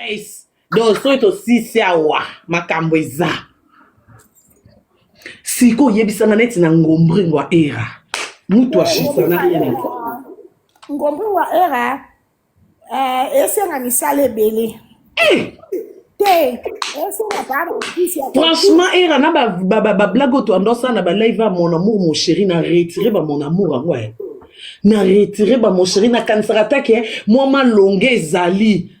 Nice. Donc soki tosisi awa makambo eza sikoyo oyebisanga neti na ngombringo ya era mutu ashisa na ene ngombringo ya era eh, esenga misala ebele eh! te esenga bana ofisi ya franchement era na bablague oyo toandosala na balive ya mon amour mon chéri na retire ba mon amour yango eh. na retire ba mon chéri nakanisaka take mwa malonga ezali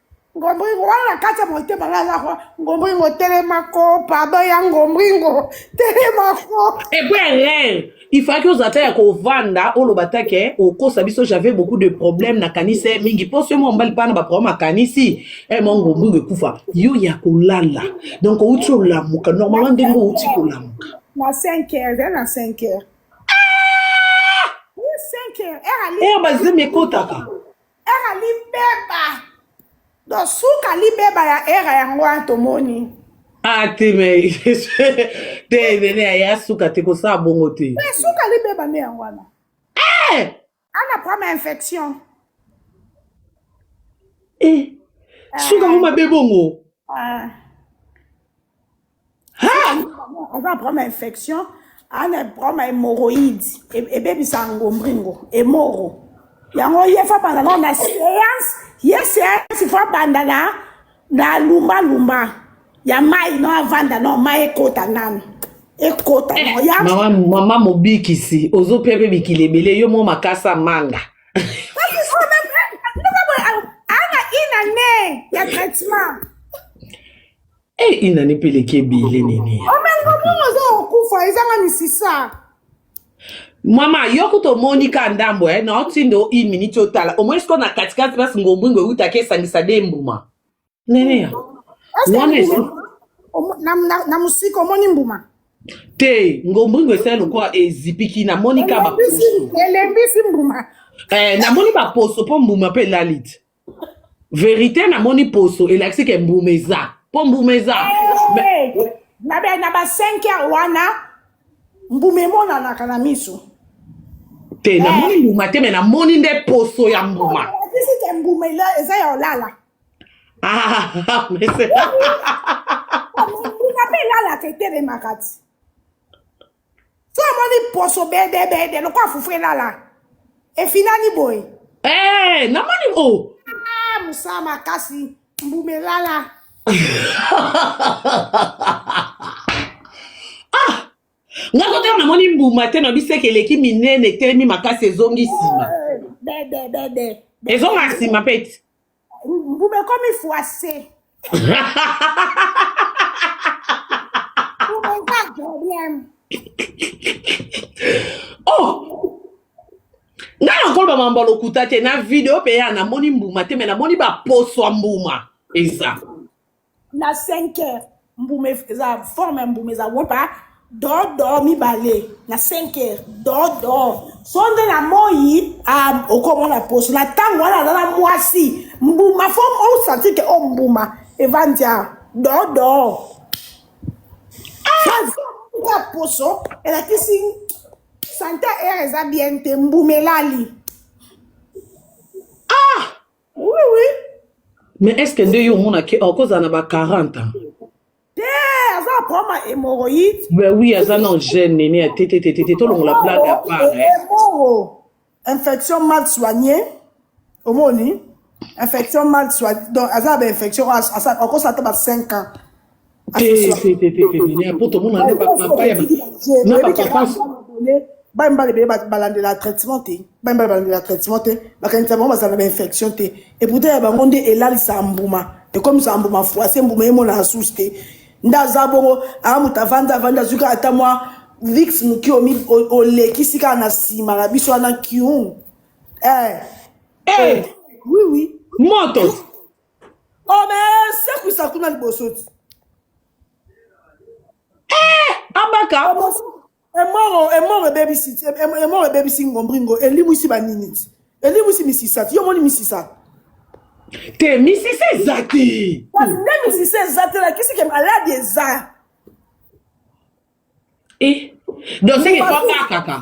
ngombringo wana na kati ya motema nga aza kwa ngombringo telemako pardon ya ngombringo telemako epo ya rere ifaki oza ata ya kovanda oloba ta ke okosa biso j'avais beaucoup de problème nakanisi ye mingi mpo soki mwa mobali mpana baproblème akanisi e eh, mwa ngombringo ekufa yo ya kolala donc outi olamuka normalement ndenge outi kolamuka na 5 heures eh, na 5 heures 5 heures heure bazemi ekotaka era libeba do suka libeba ya era yango wana tomoni ah te me te nene aya suka te kosala bongo te me suka libeba nde yango wana eh! ana prama infection eh. suka yango eh. mabe bongo ah. Ah! aza na problème ya infection ana problème ya hémorroïde E- ebebisa ngombringo emoro yango ye fo abanda nao na séance ye séance fo abanda na na lumbalumba ya mai no avanda no mai ekota nano ekota no ya mama mama mobikisi ozopia mpe mikili ebele yo mo makasa manga ana inane ya traitement Eh, inani mpe eleki ebele nini omengomongo oza kokufa ezanga misisa mama yo kutu omoni ka ndambo eh, na otinda o une minute otala omoni sikoyo na katikati place ngombwingo eutaki esangisa de mbuma neneya Est-ce que wana esi mbuma- omo- na- na- na mosika omoni mbuma te ngombwingo esali lokola ezipiki namoni ka baposo elembisi elembisi mbuma Eh, namoni baposo mpo mbuma mpe elali te verite namoni poso elakisi ke mbuma eza mpo mbuma eza hey, eh, na, na ba 5 heure wana mbuma emonanaka na miso te hey. Eh. namoni mbuma te me namoni nde poso ya mbuma elakisi ke mbuma eza ya olala ah, mbuma mpe elalaka etelemaka ti so amoni poso bedebede lokola fufu elala efinani boye hey, eh, namoni o oh. ah, mosala makasi mbuma elala ah nga kotala namoni mbuma te nayebi seke eleki minene etelemi makasi ezongi nsima eh, ezonga nsima pete Ngube ekomi fwase. Ngube eza problème. oh ngai nakoloba mambo ya lokuta te na video mpe ya namoni mbuma te me namoni baposo ya mbuma eza na 5 heures mbuma eza forme ya mbuma eza wota dodo mibale na 5 heures dodo so nde na moi ah, okomona poso na ntango wana aza na mwasi mbuma fo osanti ke o oh, mbuma evandi a dodo ya ah! poso elakisi sante heure eza bien te mbuma elali ah Oui, oui. Mais est-ce que nde yo omonaki okozala na ba 40 ans Te, aza na problème ya hémorroïde. Ben oui, aza na gene nene ya tete tete tete tolongola blague à part hein. Hémorro, infection mal soignée. Omoni? Infection mal soignée. Donc, aza na ba infection, akosa ata ba 5 ans. bamibali ebele balandela traitement te bamibali balandela traitement te bakanisa bango bazala na bainfection te eputa ya bango nde elalisa mbuma ekomisa mbuma froise mbuma emonana susu te nde aza bongo aa moto avandi avandi azwi kaka ata mwa vix moki olekisi kaka na nsima na biso wana kiun eh. eh. eh. oui oui moto Oh mais c'est que ça kuna liboso ti. Eh, abaka. Emoro, emoro ebebisi, emoro ebebisi ngombringo, elimwisi ba nini ti. Elimwisi misisa ti, yo moni misisa. Te misisa eza te. Nde misisa eza te, lakisi ke maladi eza. Eh, donc c'est que kwa kaka.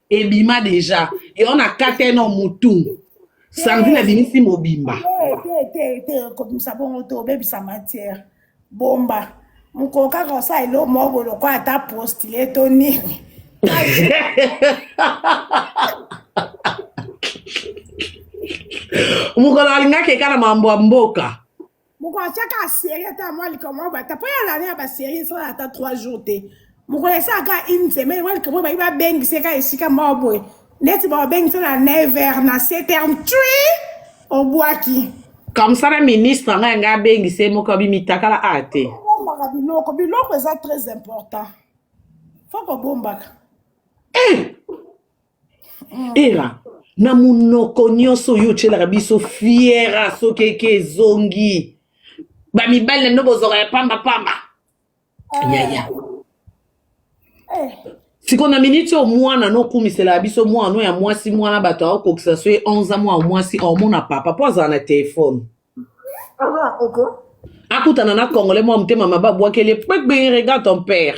ebima deja eyo na kate no mutu sandrine abimisi mobimba kobimisa bongo te obebisa matière bomba mokolo kaka osala elo moko lokola ata postile to nini mokolo alingaki ekala mambo ya mboka moko atyaka aserie ata mwa likambo mwa bata mpo ya lane ya baserie esala ata 3 jours te mokolo esalaka une semaine mwa likambo bayi babengisa eka esika moko boye neti babengisa na 9 heures na 7 heures tui obwaki comme ça na ministre ngai ngai abengisa ye moko abimitakala a te bombaka biloko biloko eza très important fo kobombaka eh! era na munoko nyonso oyo otyelaka biso fiera soki eke ezongi bamibali na bino bozwaka ya pamba pamba yaya sikoyo na miniti oyo mwana no okumisela biso mwana no ya mwasi mwana bato aokokisa so ye 11 mwa mwasi omona papa mpo azala na telefone akutana na congolais mwa motema mabe abwakeli ye pekbe regard ton père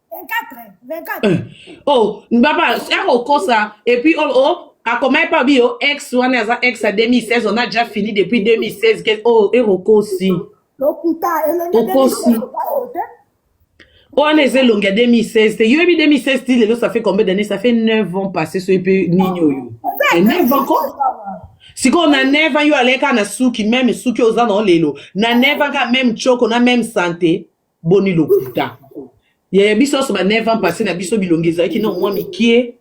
oh baba akokosa epuis oh, oh akomaki mpe abi yo ex wana aza ex ya 2016 on a déjà fini depuis 2016 ke oh ekokosi okosi wana eza elongi ya 2016 te yoyebi 2016 ti lelo ça fait combien d'année ça fait 9 ans passé soki mpe nini oyo 9 ans ko sikoyo na neva yo aleka na suki meme suki oza na olelo na neva ka meme choko na meme sante boni lokuta yaya biso nyonso ba 9 ans passé na biso bilongi ezalaki na mwa mikie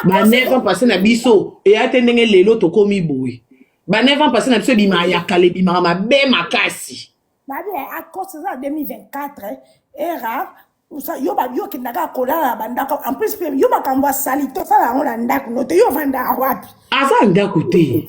ba 9 ans passé na biso eya te ndenge lelo tokomi boye ba 9 ans passé na biso ebimaka ya kala ebimaka mabe makasi babi akosi eza 2024 era yo babi okendaka kolala na bandako en plus mpe yo makambo asali tosala yango na ndako no te yo ovandaka wapi aza ndako te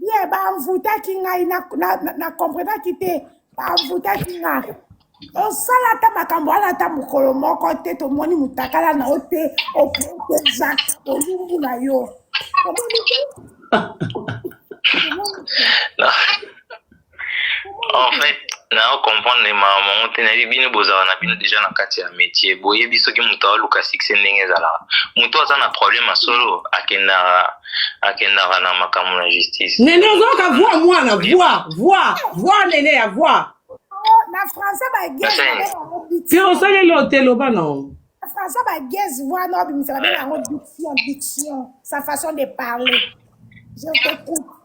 ye banvutaki ngai na, na, na, na comprenaki te banvutaki ngai osala ata makambo wana ata mokolo moko te tomoni motakala na yo te oprotejaka bolumbu na yo omoni te Omoni te? en fait nao comprendre mawa mango te nayebi bino bozala na bino deja na kati ya métier boyebi soki moto aoluka succès ndenge ezalaka moto aza na problème ya solo akendaka akendaka na makambo na justice nene ozoyoka voi mwana voi voi voi nene ya voi na français bagese osaleli ote loba nao na français bagese voi na obimisa babela yango diction diction sa façon de parler je t'écoute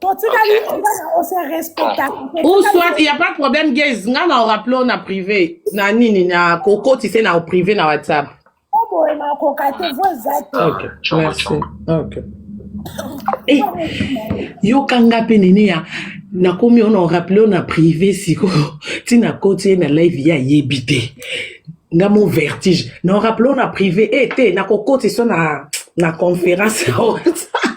totikali wana ose respecta ou soit il y a pas de problème gays nga na orappele o na privé na nini na kokoti se na privé na whatsapp oboye nakoka te vo eza te ok merci ok Hey, yokanga mpe nene ya nakomi ona orappele o na privé sikoyo ntina koti ye na live ye ayebi te nga mo vertige na orappele o na privé e te nakokoti so na na conférence ya whatsapp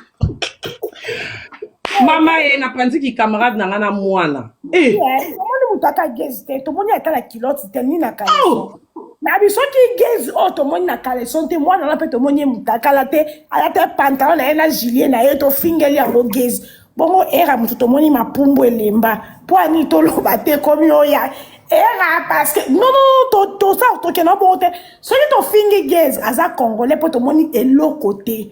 mama ye napanzi kicamarade na ngai na mwana Eh, tomoni moto ata gezi te tomoni ata na kiloti te ni na kaleso oh, na biso ki gezi oyo tomoni na kaleson te mwana wana mpe tomoni ye motakala te alata pantalon na ye na gilie na ye tofingeli yango gezi bongo era moto tomoni mapumbu elemba mpo ani toloba te komi oya era parce que non non to- tosa tokenda bongo te soki tofingi gezi aza congolais mpo tomoni eloko te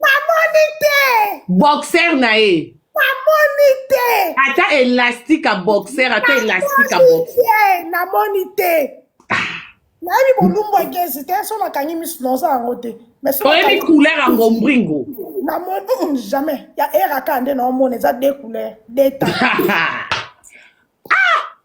bamoni te boxer na ye namoni te ata elastique ya boxer ata elastique ya boxer namoni te nayebi bolumbu ekesi te so nakangi misu naoza yango te oyebi couleur ya ngombringo namoni mm, jamais ya eraka nde naomona eza de couleur de temps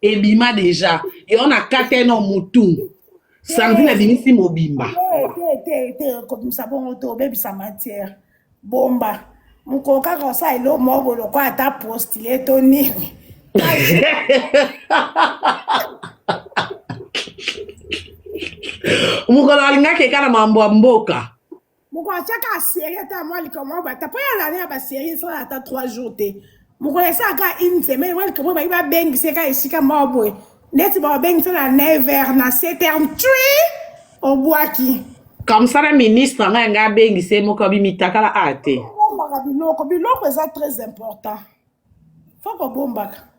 ebima deja eyo na kate no mutu sandrine abimisi mobimba kobimisa bongo te obebisa matière bomba mokolo kaka osala elo moko boye lokola ata postile to nini mokolo alingaki ekala mambo ya mboka mokolo atya kaka serie ata mwa likambo mwa bata mpo ya lana ya baserie esala ata 3 jours te mokolo esala kaka une semaine mwa likambo ebaki babengisa ye kaka esika moko boye neti babengisa na 9 heures na 7 heures twi obwaki comme ça na ministre ngai ngai abengisa ye moko abimitakala a te bombaka biloko biloko eza très important fo kobombaka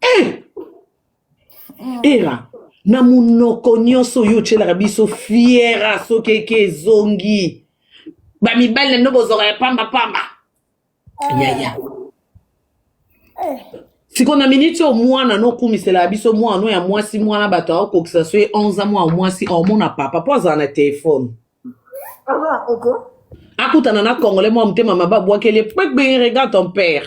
Eh! era na monoko nyonso oyo otyelaka biso fiera soki eke ezongi bamibali na bino bozwaka ya pamba pamba yaya sikoyo na miniti oyo mwana no okumisela biso mwana no ya mwasi mwana bato aokokisa so ye 11 mwa mwasi aomona papa mpo azala na telefone akutana na congolais mwa motema mabe abwakeli ye pekbe regard ton père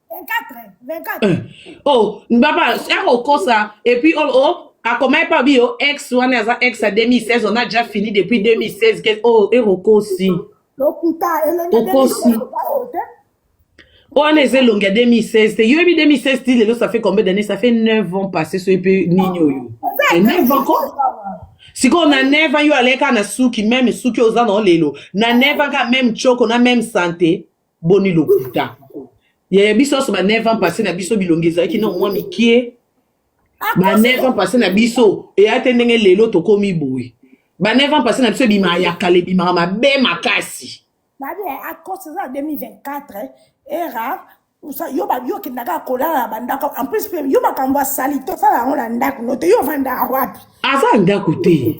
oh baba akokosa epuis oh, oh akomaki mpe abi yo ex wana aza ex ya 2016 on a déjà fini depuis 2016 ke oh ekokosi okosi wana eza elongi ya 2016 te yoyebi 2016 ti lelo ça fait combien d'année ça fait 9 ans passé soki mpe nini oyo 9 ans ko sikoyo na neva yo aleka na suki meme suki oza na olelo na neva ka meme choko na meme sante boni lokuta yaya biso nyonso ba 9 ans passé na biso bilongi ezalaki na mwa mikie ba 9 ans passé na biso eya te ndenge lelo tokomi boye ba 9 ans passé na biso ebimaka ya kala ebimaka mabe makasi babi akos eza 2024 era yo babi okenda kaka kolala na bandako en plus mpe yo makambo ya salite osala yango na ndako no te yo ofandaka wapi aza ndako te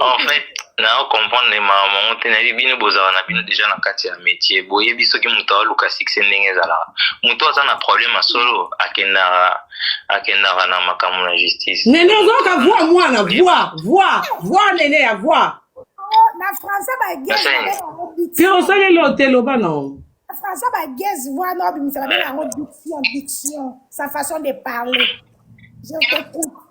en fait na comprendre mawa mango te nayebi bino bozala na bino deja na kati ya métier boyebi soki moto aoluka succès ndenge ezalaka moto aza na problème ya solo akendaka akendaka na makambo na justice nene ozoyoka voi mwana voi voi voi nene ya voi na français bagese osaleli oteloba nao français bagese voi na obimisa babe yango diction diction sa façon de parler je t'écoute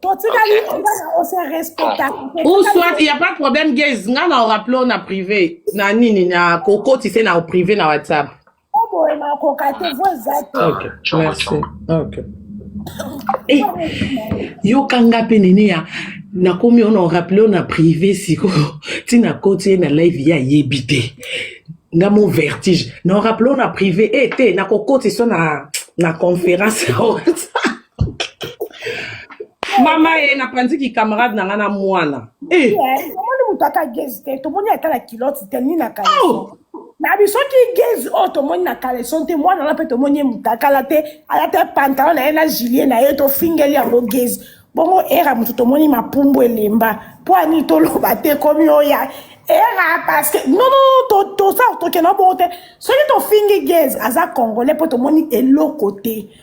totikali on se respecta ou soit il y a pas de problème gays nga na oraple na privé na nini na kokoti se na privé na whatsapp oboye makoka te vo eza te okay merci okay Hey, eh, yokanga mpe nene ya nakomi ona oraple ona privé sikoyo ntina koti ye na live ye ayebi te nga mo vertige na oraple ona privé e eh, te nakokoti so na na conférence ya whatsapp mama ye napanziki camarade na ngai na mwana eh. tomoni moto ata gezi te tomoni ata na kiloti te ni na kaleso oh! na biso ki gezi oyo oh, tomoni na kaleson te mwana wana mpe tomoni ye motakala te alata pantalon na ye na gilie na ye tofingeli yango gezi bongo era moto tomoni mapumbu elemba mpo ani toloba te komi oya era parce que non non tosa tokenda bongo te soki tofingi gezi aza congolais mpo tomoni eloko te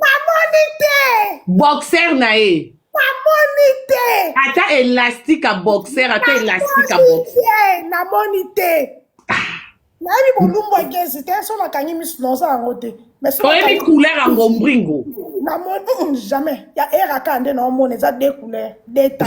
bamoni te boxer na ye namoni te ata elastique ya boxer ata elastique ya boxer namoni te nayebi bolumbu egezi te so nakangi misu naoza yango te oyebi couleur ya ngombringo namoni mm, jamais ya eraka nde naomona eza de couleur de ta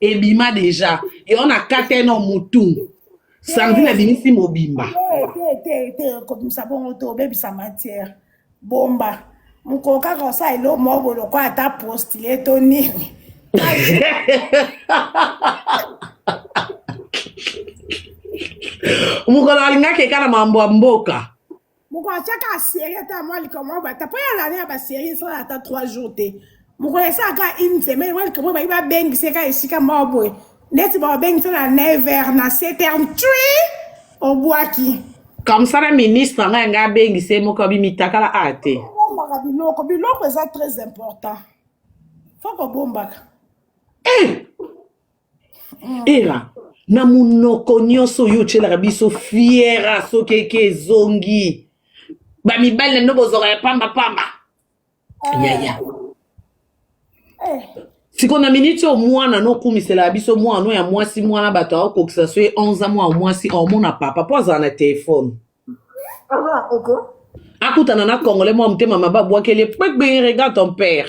ebima deja yango na kate no mutu sandrine abimisi mobimba kobimisa bongo te obebisa matière bomba mokolo kaka osala elo moko boye lokola ata postile to nini mokolo alingaki eka na mambo ya mboka moko atyaka aserie ata mwa likambo mwa bata mpo ya lane ya baserie esala ata 3 jours te moko esalaka une semaine mwa likambo bayi babengisa eka esika moko boye neti babengisa na 9 heures na 7 heures tui obwaki comme ça na ministre ngai ngai abengisa ye moko abimitakala a te bombaka biloko biloko eza très important fo kobombaka eh! era na munoko nyonso oyo otyelaka biso fiera soki eke ezongi bamibali na bino bozwaka ya pamba pamba yaya sikoyo na miniti oyo mwana no okumiselaka biso mwana no ya mwasi mwana bato akokisa so ye 11 mwa mwasi omona papa mpo azala na telefone akutana na congolais mwa motema mabe abwakeli ye pekbe regard ton père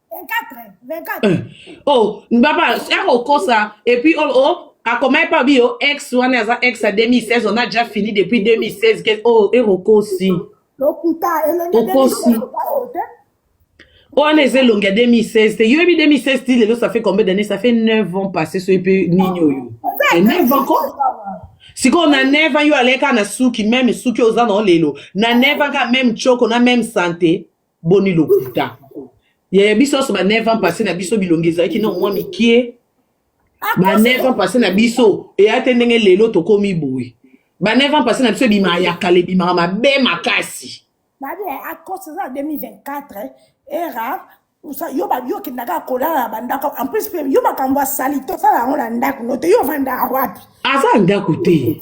oh baba akokosa epuis oh, oh akomaki mpe abi yo ex wana aza ex ya 2016 on a déjà fini depuis 2016 ke oh erokosi okosi wana eza elongi ya 2016 te yoyebi 2016 ti lelo ça fait combien d'année ça fait 9 ans passé soki mpe nini oyo 9 ans ko sikoyo na neva yo aleka na suki meme suki oza na olelo na neva ka meme choko na meme sante boni lokuta yaya biso nyonso ba 9 ans passé na biso bilongi ezalaki na mwa mikie ba 9 ans passé na biso eya te ndenge lelo tokomi boye ba 9 ans passé na biso ebimaka ya kala ebimaka mabe makasi babi akos eza 2024 era yo babi okendaka kolala na bandako en plus mpe yo makambo asali tosala yango na ndako no te yo ovandaka wapi aza ndako te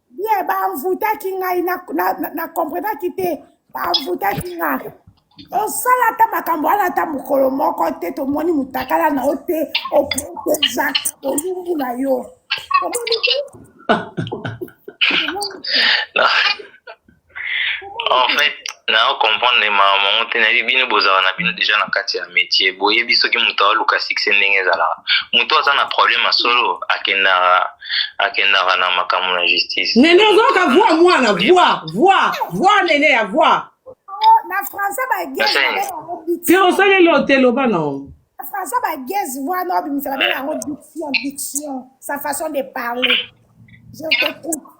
ye banvutaki ngai na, na, na, na comprenaki te banvutaki ngai osala ata makambo wana ata mokolo moko te tomoni motakala na yo te oprotejaka bolumbu na yo omoni te en fait nao comprendre mawa mango te nayebi bino bozala na bino deja na kati ya métier boyebi soki moto aoluka succès ndenge ezalaka moto aza na problème ya solo akendaka akendaka na makambo na justice nene ozoyoka voi mwana voi voi voi nene ya voi na français bagese osaleli ote loba nao na français bagese voi na obimisa babela yango diction diction sa façon de parler je t'écoute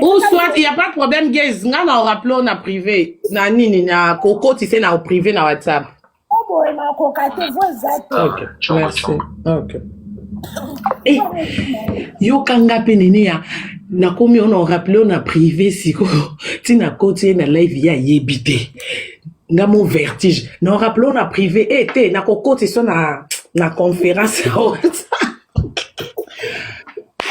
ou soit il y a pas de problème gays nga na rappelons na privé na nini na koko tu sais na privé na whatsapp boye makoka te vo eza te yokanga mpe nene ya nakomi ona orappele o na privé sikoyo ntina koti ye na live ye ayebi te nga mo vertige na orappele o na privé e te nakokotisa na na conférence ya whatsapp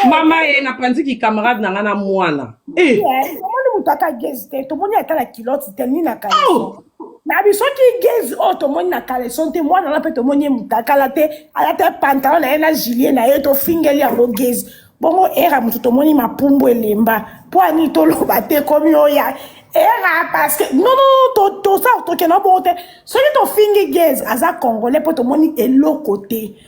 mama ye napanzi kicamarade na ngai na mwana Eh, tomoni moto ata gezi te tomoni ata na kiloti te ni na kaleso oh, na biso ki gezi oyo tomoni na kaleson te mwana wana mpe tomoni ye motakala te alata pantalon na ye na gilie na ye tofingeli yango gezi bongo era moto tomoni mapumbu elemba mpo ani toloba te komi oya era parce que non non to- tosa tokenda bongo te soki tofingi gezi aza congolais mpo tomoni eloko te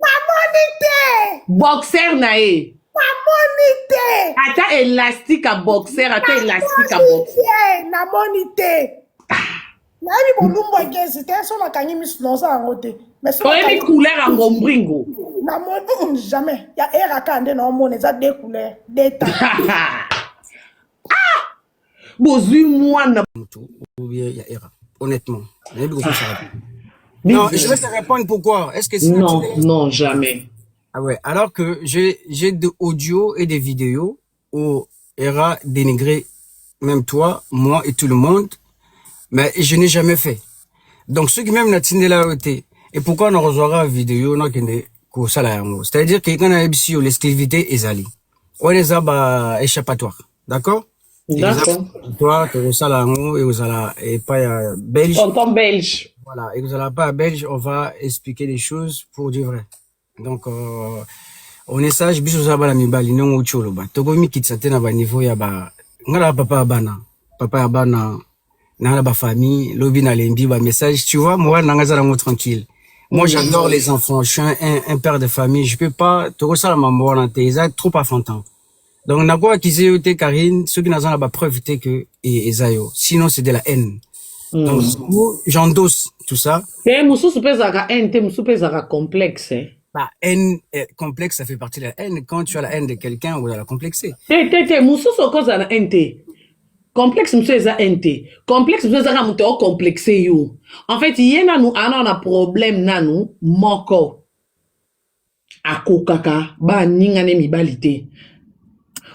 bamoni te boxer na ye namoni te ata elastique ya boxer ata elastique ya boxer namoni te nayebi bolumbu egezi te so nakangi misu naoza yango te oyebi couleur ya ngombringo namoni mm, jamais ya eraka nde naomona eza de couleur deta bozui mwana mutu ou bien ya era honnêtement nayebi kokosaka te non je vais te répondre pourquoi est-ce que non non jamais ah ouais alors que j'ai j'ai de audio et des vidéos où era dénigré même toi moi et tout le monde mais je n'ai jamais fait donc ceux qui même na tindela yo te et pourquoi na kozwaka video nakende kosala yango c'est-à-dire que nga nayebisi yo l'esclavité ezali wana eza ba échappatoire d'accord toi tokosala yango ekozala epai ya belge tonton belge voilà ekozala epai ya belge on va expliquer les choses pour du vrai donc euh, on est sage biso oza bana mibali ndenge outi oloba tokoki mikitisa te na baniveau ya ba ngai na papa ya bana papa ya bana nanga na bafamille lobi nalembi bamessage tu vois moral nanga eza nango tranquille moi j'adore les enfants je suis un, un, un père de famille je peux pas tokosala mambo wana te eza trop enfantin donc na ko accuser yo te Karine soki naza na ba preuve te que e- eza yo sinon c'est de la haine donc du coup j'endosse tout ça te mosusu mpe ezalaka haine te mosusu mpe ezalaka complexe eh. bah haine euh, complexe ça fait partie de la haine quand tu as la haine de quelqu'un ou de la complexer te te te mosusu okozala na haine te complexe mosusu eza haine te complexe mosusu ezaka moto ocomplexe yo en fait ye nanu ana na problème nanu moko akokaka baninga ne mibali te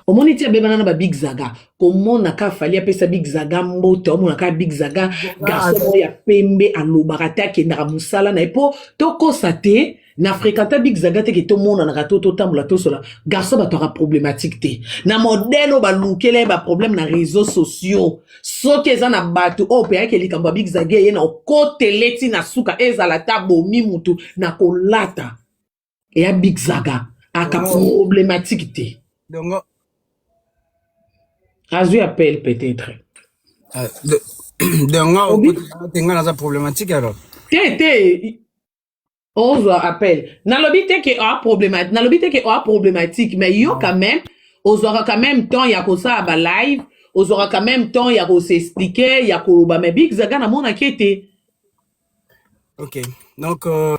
omoni ti abebana na babig zaga komona ka fali apesa big zaga mbote omona ka big zaga garçon moko ya pembe alobaka te akendaka mosala na ye mpo tokosa te na fréquenta big zaga teke tomonanaka to totambola tosola garçon bato aka problématique te na modèle oyo balukela ye baproblème na réseau sociaux soki eza na bato oyo opeyaki likambo ya big zage ye na okotele ti na suka ezala ta bomi motu na kolata eya big zaga aka problematike te dongo azwi appel peut-être ah, dongo okotelanga te ngai naza problematike alors te te ozwa appel nalobi te ke oa problematique nalobi te ke oa problematique mais yo quand même ozwaka quand même temps ya kosala ba live ozwaka quand même temps ya kosexplike ya koloba mais big zaga namonaki ete ok donc euh...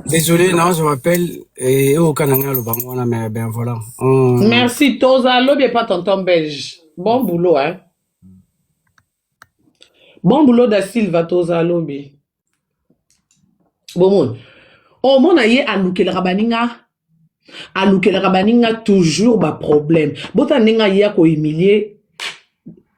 Désolé, non, je m'appelle et au Canada, le Bangwana, mais ben voilà. On... Merci, Toza, l'objet pas tonton belge. Bon boulot, hein. bon boulot da silva toza lobi bomoni omona ye alukelaka baninga alukelaka baninga toujours baproblème bota ndenge aye akohumilie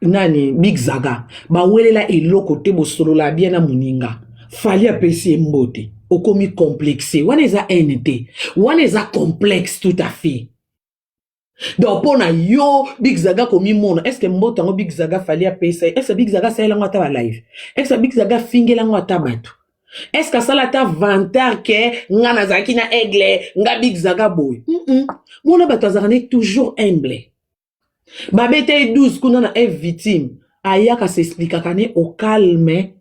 nani big zaga bawelela eloko te bosolola bien na moninga fali apesi ye mbote okomi complexe wana eza haine te wana eza complexe tout à fait donc mpo na yo big zaga komimona estce mboto yango big zaga fali apesa ye estce big zaga asalela yango ata balive estce big zaga afingela yango ata bato estce asala ata vantar ke nga nazalaki na aigle nga big zaga boye mm -mm. mona bato azalaka ne toujours humble babeta ye 12 kuna na eve victime ayaka s'explikaka ne au calme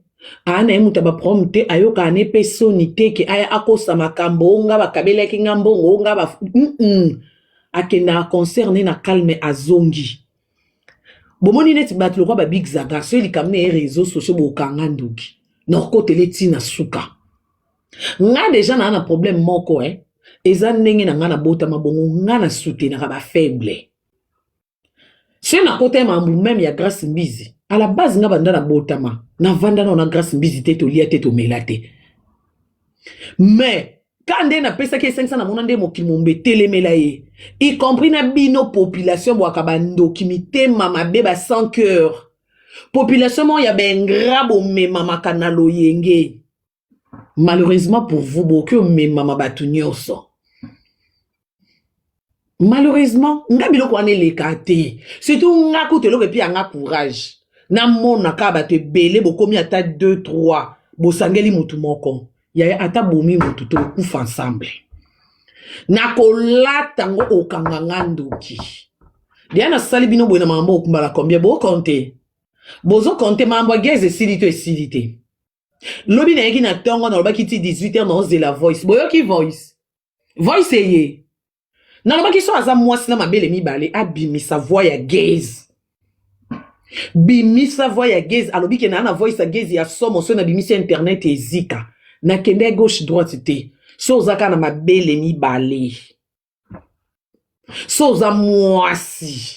aa na ye moto ya baproblème te ayokaka ne mpe soni te ke aya akosa makambo o nga bakabelaki nga mbongo o nga ba mm -mm. akendaka concert ne na calme azongi bomoni neti bato lokwa babig zaga soki likambo na ye réseau sociaux bokanga ndoki nakokotela eti na suka nga deja naa na problème moko eh. eza ndenge na nga nabotama bongo nga na soutenaka bafaible se na kota ya mambu meme ya grace mbizi à la base nga banda na botama na vanda na na grace mbizi te tolia te tomela te mais ka nde napesaki esengisa namona nde mokili momba etelemela ye y compris na bino population bwaka bandoki mitema mabe ba sans cœur population moko ya baingra bomemamaka na loyenge malheureusement pour vous bokoki omemama bato nyonso malheureusement nga biloko wana eleka te surtout nga kutu eloko epi yanga courage namonaka bato ebele bokomi ata 2 3 bosangeli motu moko yaya ata bomi motu tokufa ensemble nakolata ngo okanga nga ndoki deya nasali bino boye na makambo okumbala combien bokonte bozokonte makambo ya gaz esili to esili te lobi nayaki na ntongo nalobaki ti 18 heure naozela voice boyoki voice voice eye nalobaki so aza mwasi na mabele mibale abimisa voi ya gaze bimisa voi ya gaze alobi ke naa na voice ya gaze ya somo so nabimisi internet ezika nakende ya gauche droite te so oza kaka na mabele mibale so oza mwasi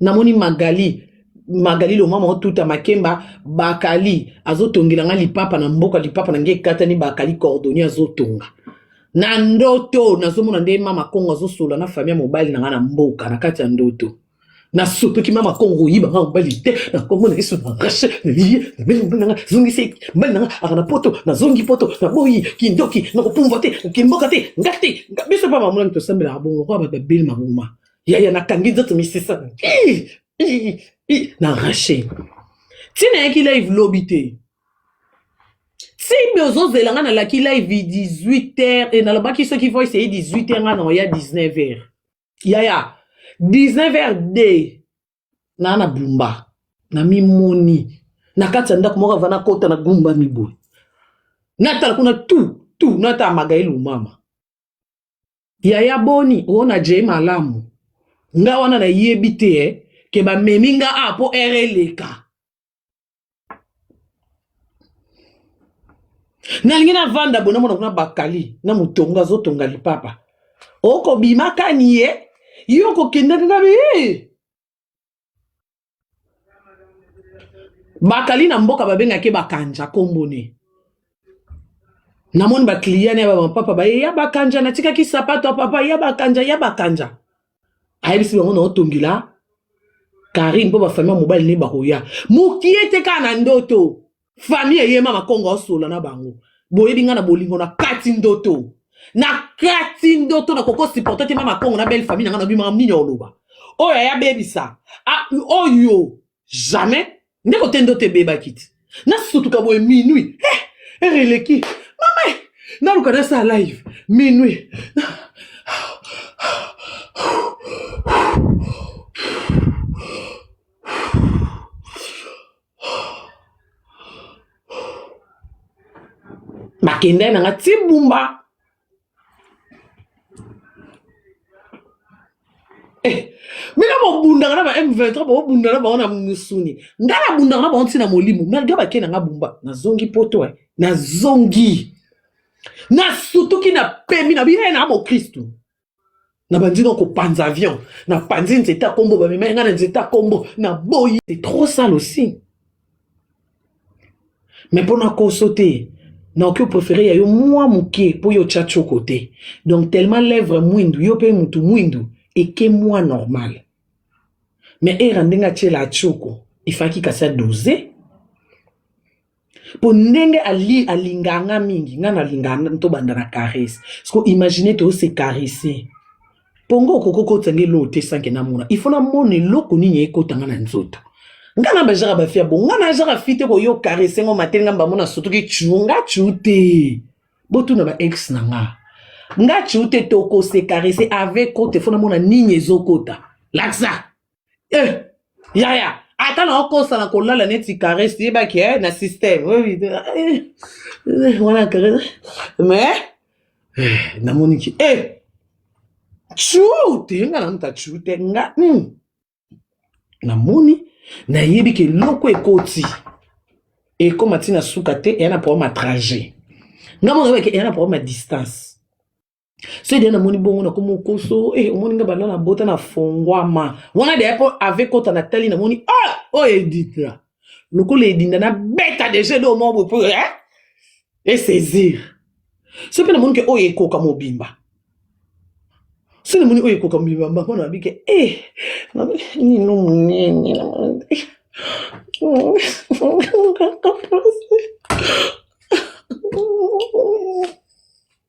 namoni magali magali lomama otuta makemba bakali azotongela nga lipapa na mboka lipapa na nge ekatani bakali cordonnier azotonga na ndoto nazomona nde mama kongo azosola na famille ya mobali na nga na mboka na kati ya ndoto nasopeki mama kongo oyiba nga mobali te na kongo na yesu na rashe naliye nameli mobali nanga zongisi mobali nanga aka na poto nazongi poto naboyi kindoki nakopumbwa te kimboka te nga te biso mpa bamulami tosambelaka bongo kwa bato babeli mabuma yaya nakangi nzoto misisa na rache ti nayaki live lobi te tibe ozozela nga nalaki live 18 heures e nalobaki soki voice eye 18 heures nga na oya 19 heures yaya 19 heures de naa na bumba na mimoni na kati ya ndako moko ava nakota na gumba miboye natala kuna tu tu natala magaele omama Yaya boni oona jay malamu nga wana nayebi te eh, ke bamemi nga a mpo ere eleka nalingi navanda bo namona kuna bakali na motongo azotonga lipapa okobima kani ye yo okokende nde nabi bakali na mboka babengaki bakanja kombo ne namoni bakliya na ya bamapapa baye ya bakanja natikaki sapato ya papa ya bakanja ya bakanja ayebisi bango na otongila karine mpo bafami ya mobali nde bakoya mokie te kaka na ndoto famille eye mama kongo aosola na bango boyebi ngai na bolingo na kati ndoto na kati ndoto na koko supporte te mama kongo na belle famille na ngai nabimaka nini oloba oyo aya bebisa oyo jamais nde kote ndoto ebebaki te nasutuka boye minuit eh, ere eleki mama eh, naluka nasala live minuit nakendai na nga ti bumba eh, bino bobundaka na ba m23 bobunda na bango na musuni ngai nabundaka na bango ntina molimo malgre bakei na nga bumba nazongi poto eh. nazongi nasutuki na pemi na bino ye na mokristu na bandi na kopanza avion na panzi nzete ya kombo bamemai ngai na nzete ya kombo na boyi c'est trop sale aussi mais mpo na koso te naoki oprefere ya yo mwa moke mpo yo otya tioko te donc tellement lèvre mwindu yo mpe motu mwindu eke mwa normal mais era ndenge atyela atioko efaki kasi adose mpo ndenge ali alingaka nga mingi nga nalingaka tobanda na caresse siko imagine toose caresse mpo nga okoki okotisa nga eloko te sanke namona ifo namona eloko nini ekota nga na nzoto nga na bajaka bafi ya bongo nga najaka fi te koyo caresse ngo mateli nga mbamona sotoki cu nga cu te botuna ba ex na nga nga cu te tokose caresse avec kote fo namona nini ezokota lakisa eh, yaya ata na okosa na kolala neti caresse yebaki eh, na système eh, eh, wana caresse mais eh, namoniki eh, chu te nga na muta chu te nga mm. namoni nayebi ke eloko ekoti ekoma ntina suka te eya na problème ya trajet nga mona yebaki eya na problème ya distance soki deya namoni bongo na komi okoso e eh, omoni nga banda na bota na fongwama wana deya mpo ave kota na tali namoni o ah, oyo oh, edita lokola edinda na beta deja ede omoko boye mpo eh? esaisir soki mpe namoni ke oyo ekoka mobimba soki namoni oyo ekoka mobimba mpo na bike e eh, nino monene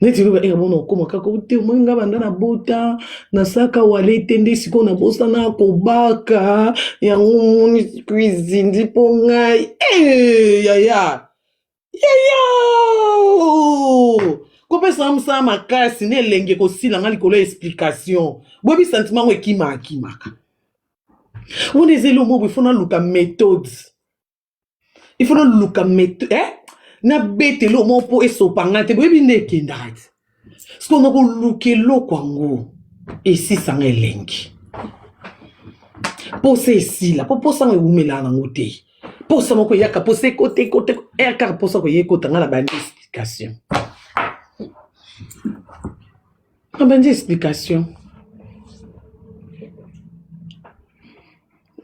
neti loba eka mona okoma kaka ote omoi nga banda na bota nasaka wale te nde sikoyo nabosana kobaka yango moni cuisine mpo ngai eh, yaya yaya kopesa nga mosala makasi na elenge kosila nga likolo ya explication boyebi sentiment yango ekima akimaka wana eza elongo boye fo naluka méthode il faut noluka meto eh? nabeta eloko moko mpo esopa ngai te boyebi nde ekendaka te siko nakoluka eloko yango esisanga elengi mposa esila mpo mposa yango ewumelaka nango te mposa moko eyaka mposa ekota ekota eh, kaka mposa koya ekota ngai na bandi explication Abandi explication.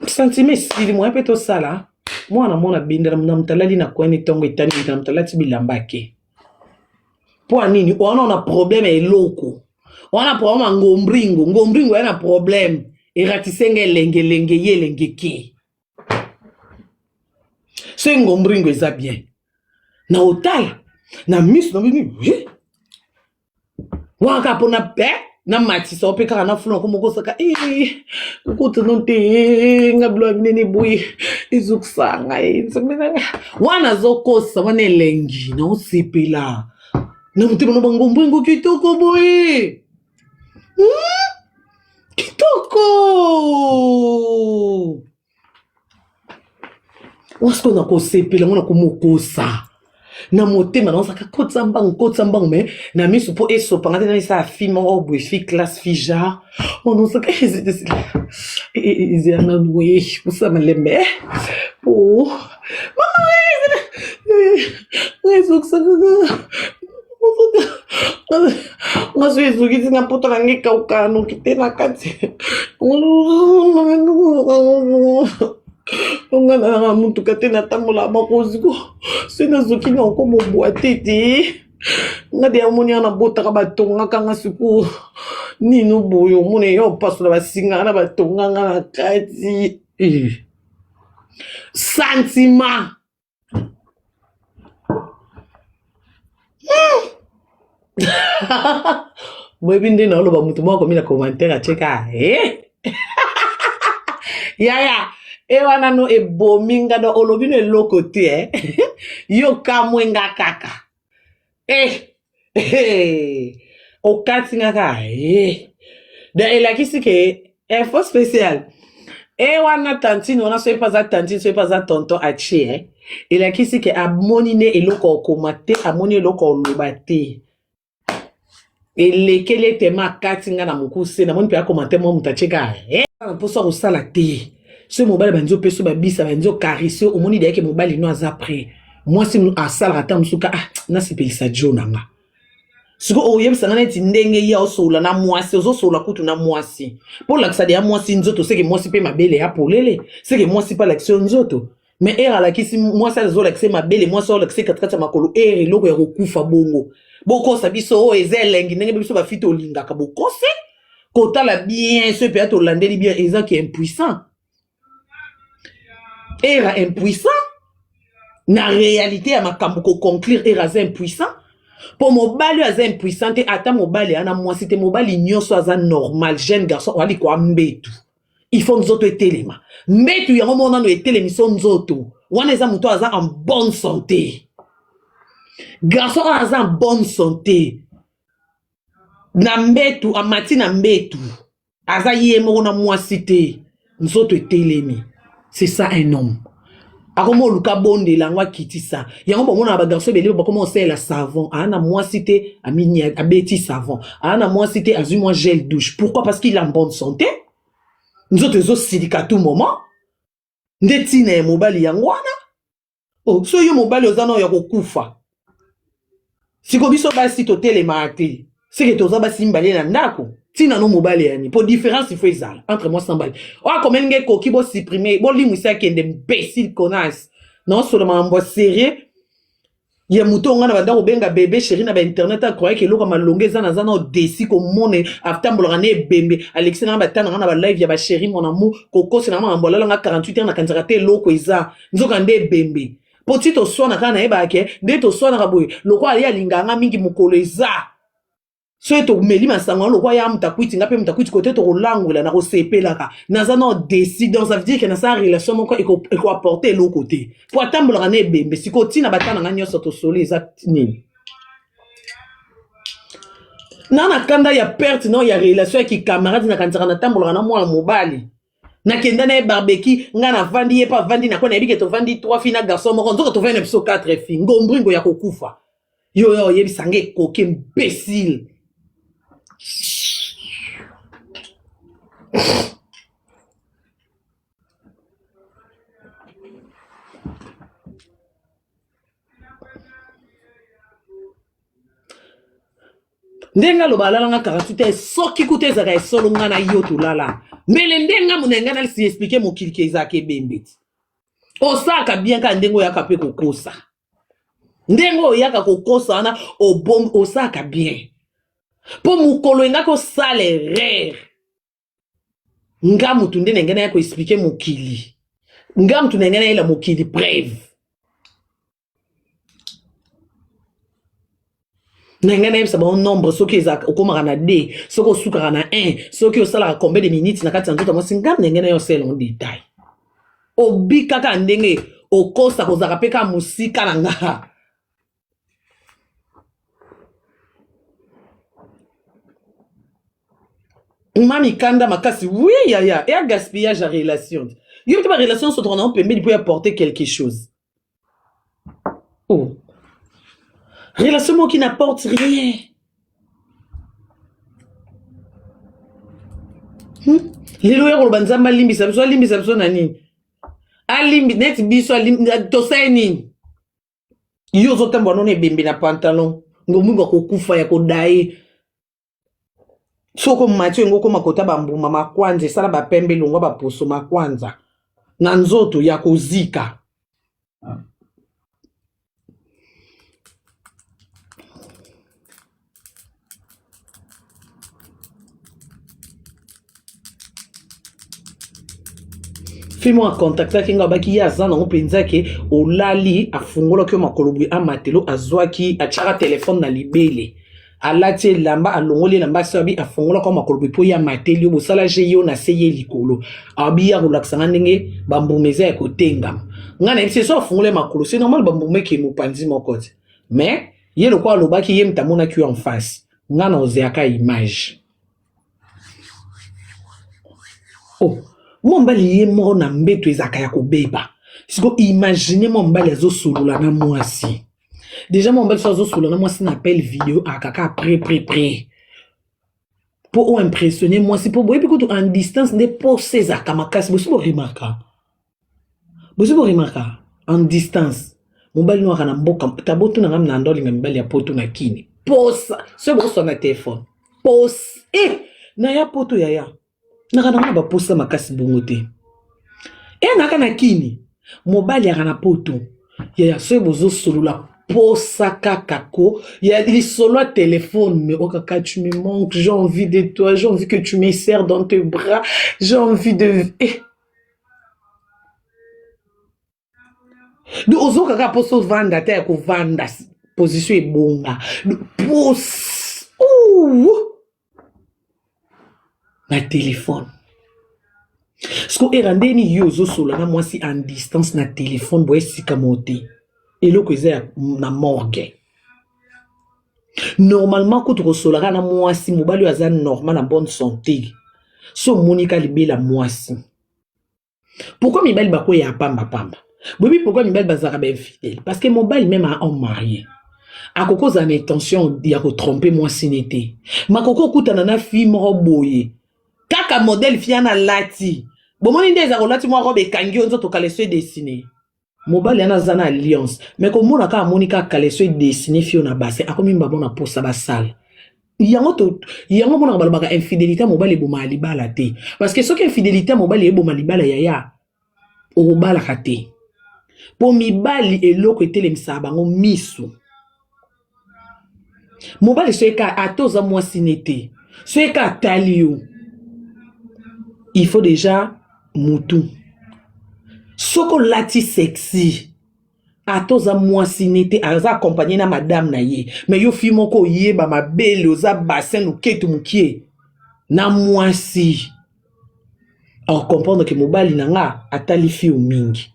Sentiment esili moya mpe tosala mwana mwana bendela na moto alali na kwani ntongo etani na moto alati bilamba ake mpo nini wana na problème ya eloko wana problème ya ngombringo ngombringo ya na problème eratise nga elengelenge ye elenge ke soki ngombringo eza bien na otala na miso na bino waka mpo na pe na matisa ope kaka na fula komoko osaka kokotano te nga bilo ya minene boye ezokisa ngai nzambe nanga wana azokosa wana elengi na osepela na motema na bangombo yango kitoko boye hmm? kitoko wasko na kosepela yango na komokosa na motema na ozaka kotisa mbangu kotisa mbangu me na miso mpo esopanga te naisa fi moko boye fi classe fi genre ona ozaka ezela nanu e, e, e, malembe po ngaso ezokisi na poto na ngai kauka noki te na kati nga na motuka te natambola makozi ko soki nazoki na oko mobwa te te nga de yamoni ya nabotaka batongaka nga sikoyo nino boye omona eya opasola basinga na batonga nga na kati eh. sentiment hmm. boyebi nde naoloba motu moko akomi na commentaire atyeka e yaya e wana no ebomi nga do olobi no eloko te eh? yo kamwe nga kaka eh, eh, okati nga ka eh. da elakisi ke info eh, special e eh, wana tantine wana soki mpe aza tantine soki mpe aza tonton aci e eh. elakisi ke amoni nde eloko okoma te amoni eloko oloba te elekeli ete ma akati nga na mokuse namoni mpe akomante mwa moto atyeka eh? na mposa ya kosala te soki mobali banzi opesi babisa banzi okarise omoni deyake mobali no aza pre mwasi asalaka ata mosuka ah nasepelisa jo na nga sikoy oyebisa nga neti ndenge ye osolola na mwasi ozosolola kutu na mwasi mpo olakisa deya mwasi nzoto seke mwasi mpe mabele ya polele seke mwasi mpe alakisi yo nzoto me ere alakisi mwasi azolakisa mabele mwasi azolakisa katikati ya makolo ere eloko ya kokufa bongo bokosa biso oyo oh, eza elengi ndenge biso bafiti olingaka bokose kotala bien soki mpenza tolandeli bien eza ki impuissant era impuissant na réalité ya makambo koconclure era aza impuissant mpo mobali oyo aza impuissant te ata mobali ana mwasi te mobali nyonso aza normal jeune garçon oali koambetu il faut nzoto etelema mbetu yango moko nano etelemiso nzoto wana eza moto aza en bonne santé garçon oyo aza en bonne santé na mbetu amati na mbetu aza ye moko na mwasi te nzoto etelemi c'est ça un homme akoma oluka abondela yango akitisa yango bamonaka bagarso ebele bakoma osalela savon aa na mwasi te abeti savon aa na mwasi te azwi mwa gel douche pourquoi parce qu'il a bonne santé nzoto ezosilika tout moment nde ntina ya mobali yango wana o oh, so yo mobali oza nao ya kokufa siko biso basi totelemaka te seke toza basi mibale na ndako ntina no mobali yani mpo différence ifo ezala entre mwasi na mobali oyo akomeli ngai ekoki bosupprime bolimwisa akende mbesile connasse naosolo makambo ya serieux ya moto ngai na banda kobenga bebe sheri na bainternet akroyaki eloko ya malonga eza naza na odesi komone atambolaka na ebembe alekisi na ngai batana ngai na balive ya basheri mon amour kokosela ngai makambo alala ngai 48 heure nakanisaka te eloko eza nzoka nde ebembe mpo ti toswana kaka nayebaka ke nde toswanaka boye lokola ye alingaka nga mingi mokolo eza soki tomeli masango yango lokola ya mutakwiti nga mpe mutakwiti kote tokolangwela nakosepelaka naza nao desi donc ça veut dire ke nasala relation moko ekoapporte eloko te mpo atambolaka na ebembe sikoyo ntina bata na nga nyonso tosoli eza nini na na kanda ya perte nao ya relation ya kikamarade nakanisaka natambolaka na mwana mobali nakenda na ye barbeki ngai navandi ye mpe avandi nako nayebi ke tovandi trois fi na garçon moko nzoka tovandi na biso quatre fi ngombringo ya kokufa yo ya oyebisa ngai ekoki imbesile ndenge aloba alala nga karatu te soki kuta ezaka ya solo nga na yo tolala mbele nde nga mona nga nalisi explike mokili ke ezaka ebembe ti osalaka bien kaka ndenge oyaka mpe kokosa ndenge oyaka kokosa wana osalaka bien mpo mokolo engaki osala erreur nga mutu nde nenge naya koexplike mokili nga mutu nenge nayela mokili preve nenge nayebisa bango nombre soki eza okomaka na d soki osukaka na 1 soki osalaka combien de minutes na kati ya nzoto ya mwasi nga nenge nayo osela en detail obikaka ndenge okosa kozalaka mpe kaka mosika na nga ma mikanda makasi oui yaya ya gaspillage ya relation yo mpe barelation nyonso tokana yango pembeni mpo ya porte quelque chose oh. relation moko qui n'apporte rien hmm? lelo ya koloba nzambe alimbisa biso alimbisa biso na nini alimbi neti biso tosali nini yo ozotambola nono ebembe na pantalon ngomungu akokufa ya kodaye soko matio yango okoma kota bambuma makwanza esala bapembe longwa baposo makwanza na nzoto ya kozika fimo akontaktaki ngai abaki ye aza nango mpenza ke olali afungolaki yo makolo boye amatelo azwaki atyaka telefone na libele alati elamba alongoli elamba asi abi afungolaka makolo boye mpo ye amateli yo bosala je yo na se ye likolo abi ye akolakisa ngai ndenge bambuma eza ya kotengama ngai nayebisi ye so afungoli makolo se normal bambuma ekei mopanzi moko te mais ye lokola alobaki ye moto amonaki yo en face nga na ozeaka image oh mwa mobali ye moko na mbeto ezalaka ya kobeba siko imagine mwa mobali azosolola na mwasi deja mwa mobali so azosolola na mwasi na appel video akaka pre pre pre mpo oimpressionne mwasi mpo boyebi kutu en distance nde posa ezalaka makasi bosi boremarka bozo boremarka en distance mobali noaka na mboka tabo tuna nga mnanda olinga mibali ya poto na kini posa soki bokoswa na telefone pose e eh, na ya poto yaya naka nango na baposa makasi bongo te e eh, naka na kini mobali yaka na poto yaya soki bozosolola posa kaka ko ya lisolo ya telefone mais okaka tu me manque j'ai envie de toi j'ai envie que tu me serre dans tes bras j'ai envie de eh. donc ozoka kaka mposa ovanda ata ya kovanda position ebonga pose na telefone siko era nde nini yo ozosola na mwasi en distance na telefone boye sika moo te eloko eza na morgue normalement kutu kosolaka na mwasi mobali oyo aza normal na bonne santé so omoni ka libela mwasi pourkui mibali bakweyaka pambapamba boyebi pourkui mibali bazalaka bainfidele parce que mobali meme a homme marie akoki kozala na intention ya kotrompe mwasi ne te makoki okutana na fille moko boye kaka modele fiana alati bomoni nde eza kolati mwa robe ekangi yo nzoto kaleso edesine mobali yana aza na alliance me komona kaka amoni kaka kaleso edesine fio na base akomi mbabo na posa basala yango to yango monaka balobaka infidélité ya mobali ebomaka libala te parce que soki infidélité ya mobali eboma libala yaya okobalaka te mpo mibali eloko etelemisaka bango miso mobali soki kaka ata oza mwasi ne te soki kaka atali yo il faut deja mutu soki olati sexy ata oza mwasi ne te aza accompagne na madame na ye me yo fi moko oyeba mabele oza basin loketu mokie na mwasi ako comprendre ke mobali na nga atali fiu mingi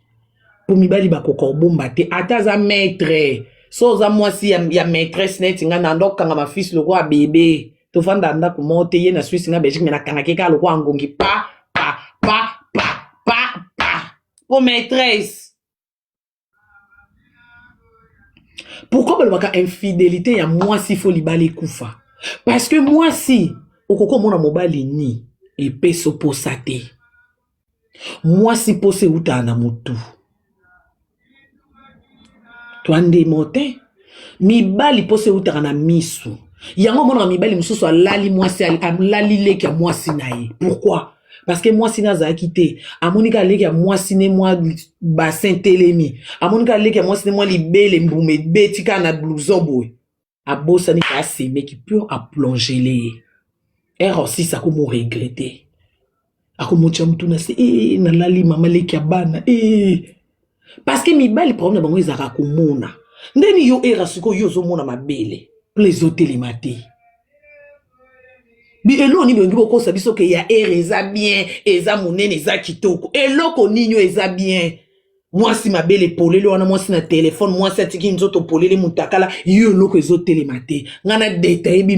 mpo mibali bakoka kobomba te ata aza maitre so oza mwasi ya, ya maitresse neti nga na ndo kanga mafisi lokola bebe tofanda ndako moko te ye na swisi na belgique me nakangaki kaka lokola ngongi pa pa pa pa pa pa mpo maitresse pourquoi balobaka infidelité ya mwasi fo libala ekufa parce que mwasi okoki omona mobali ni epesi oposa te mwasi mposa eutaka na motu twandemo te mibali mposa eutaka na misu yango omonaka mibali mosusu alali mwasi alali leki ya mwasi na ye pourquoi parce que mwasi ne azalaki te amoni kaka leki ya mwasi ne mwa bassin telemi amoni kaka leki ya mwasi ne mwa libele mbuma ebeti kaka na blouson boye abosani ka asemeki mpo aplongele ye ere osisi akomoregrete akomotya motu na se ee eh, nalali mama leki ya bana ee eh. parce que mibali problème na bango ezalaka komona ndeni yo era sikoyo yo ozomona mabele pla ezotelema te eloko nini bolingi bokosa biso ke ya ere eza bien eza monene eza kitoko eloko nini oyo eza bien mwasi mabele polele wana mwasi na telefone mwasi atiki nzoto polele mutakala yo eloko ezotelema te ngai na detaye bino